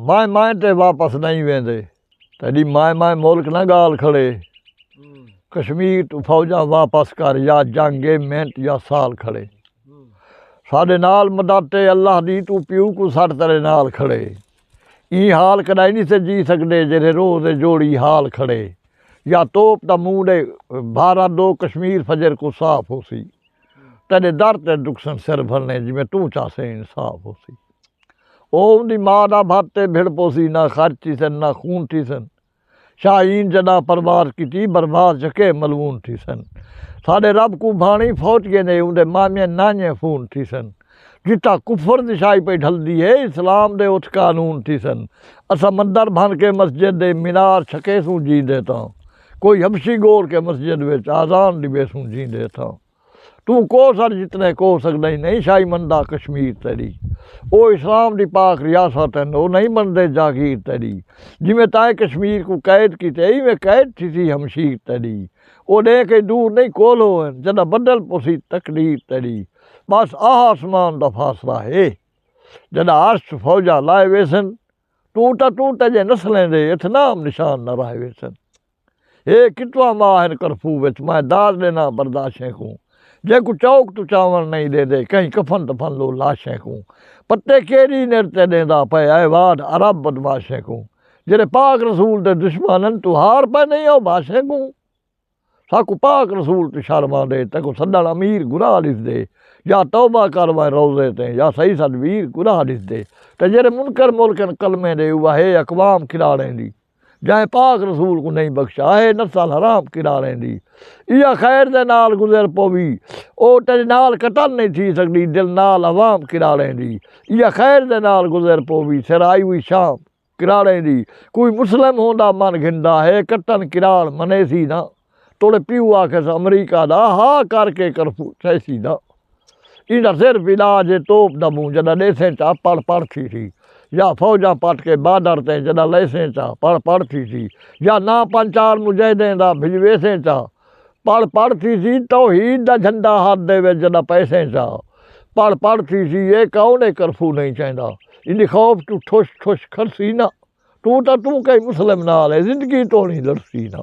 مائیں مائیں تے واپس نئیں ویندے تیڈی مائیں مائیں ملک نہ گال کھڑے کشمیر توں فوجاں واپس کر یا جنگ اے منٹ یا سال کھڑے ساڈے نال مدد اے اللہ دی توں پیو کوں سٹ تیڈے نال کھڑے ایں حال کڈائی نی سے جی سگڈے جیڈے روز اے جوڑی حال کھڑے یا توپ دا موڈ اے بھارت دو کشمیر فجر کوں صاف ہوسی تیڈے در تے ڈکسن سر بھرنے جویں توں چاہسیں انصاف ہوسی۔ اوہ اوندی ماء دا بھت تے بھڑ پوسی، نہ خرچ تھیسن نہ خون تھیسن۔ شاہین جݙاں پرواز کیتی برباد جھکے ملعون تھیسن۔ ساݙے رب کوں بھاݨی فوت گیندے اوندے مامیاں نانہیاں فون تھیسن۔ جتھاں کفر دی سائی پئی ڈھلدی ہے اسلام دے اتھ قانون تھیسن۔ اساں مندر بھن کے مسجد دے مینار چھکیسوں جیندے تاں کوئی حبشی گول کے مسجد وچ آذان ݙیویسوں جیندے تاں۔ توں کوہ سر جتنے کوہ سگدئیں نئیں شاہی مندا کشمیر تیڈی او اسلام دی پاک ریاست ہن او نئیں مندے جاگیر تیڈی جیویں تائیں کشمیر کوں قید کیتے ایویں قید تھیسی ہمشیر تیڈی او ڈینہہ کئی دور نئیں کول ہو ہن جڈاں بدل پوسی تقدیر تیڈی بس آہ آسمان دا فاصلہ ہے جڈاں عرش فوجاں لائے ویسن توں تاں توں تیجے نسلیں دے اتھ نام نشان نہ رہے ویسن۔ ہے کتواں ماہ ہن کرفو وچ میں داد ڈینا برداشیں کوں جیکوں چوک توں چاون نئیں ڈیندے کہیں کفن دفن لو لاشیں کوں پتے کیری نر تے ڈیندا پئے اے واڈ عرب بدماشیں کوں جیرے پاک رسول دے دشمانن توں ہار پئے نئیں او بھاشیں کوں ساکوں پاک رسول توں شرم آندے تیکوں سڈن امیر گناہ ڈسدے یا توبہ کر ویں روزے تیں یا سہی سڈ ویر گناہ ڈسدے تے جیرے منکر ملکن کلمے ڈے اوہا ہے اقوام کھلاڑیں دی۔ جائیں پاک رسول کوں نئیں بخشا ہے نسل حرام کرا رہندی ایہا خیر دے نال گزر پووی او تیڈے نال قتل نئیں تھی سکدی دل نال عوام کرا رہندی ایہا خیر دے نال گزر پووی سر آئی ہوئی شام کرا رہندی کوئی مسلم ہوندا من گھندا ہے کتن کراڑ منیسی نہ توڑے پیو آکھیس امریکہ دا ہا کر کے کرفو سیسی دا ایندا صرف علاج ہے توپ دا منہ جڈاں ڈیسیں چا پڑ پڑ تھیسی یا فوجاں پٹ کے بارڈر تیں جڈاں لیسیں چا پڑ پڑ تھیسی یا ناں پنج چار مجاہدیں دا بھجویسیں چا پڑ پڑ تھیسی توحید دا جھنڈا ہتھ دے وچ جڈاں پیسیں چا پڑ پڑ تھیسی اے کون اے کرفو نہیں چاہندا ایندی خوف توں ٹھش ٹھش کھڑسی ناں۔ توں تاں توں کہیں مسلم نال ہے زندگی توڑیں لڑسی نا۔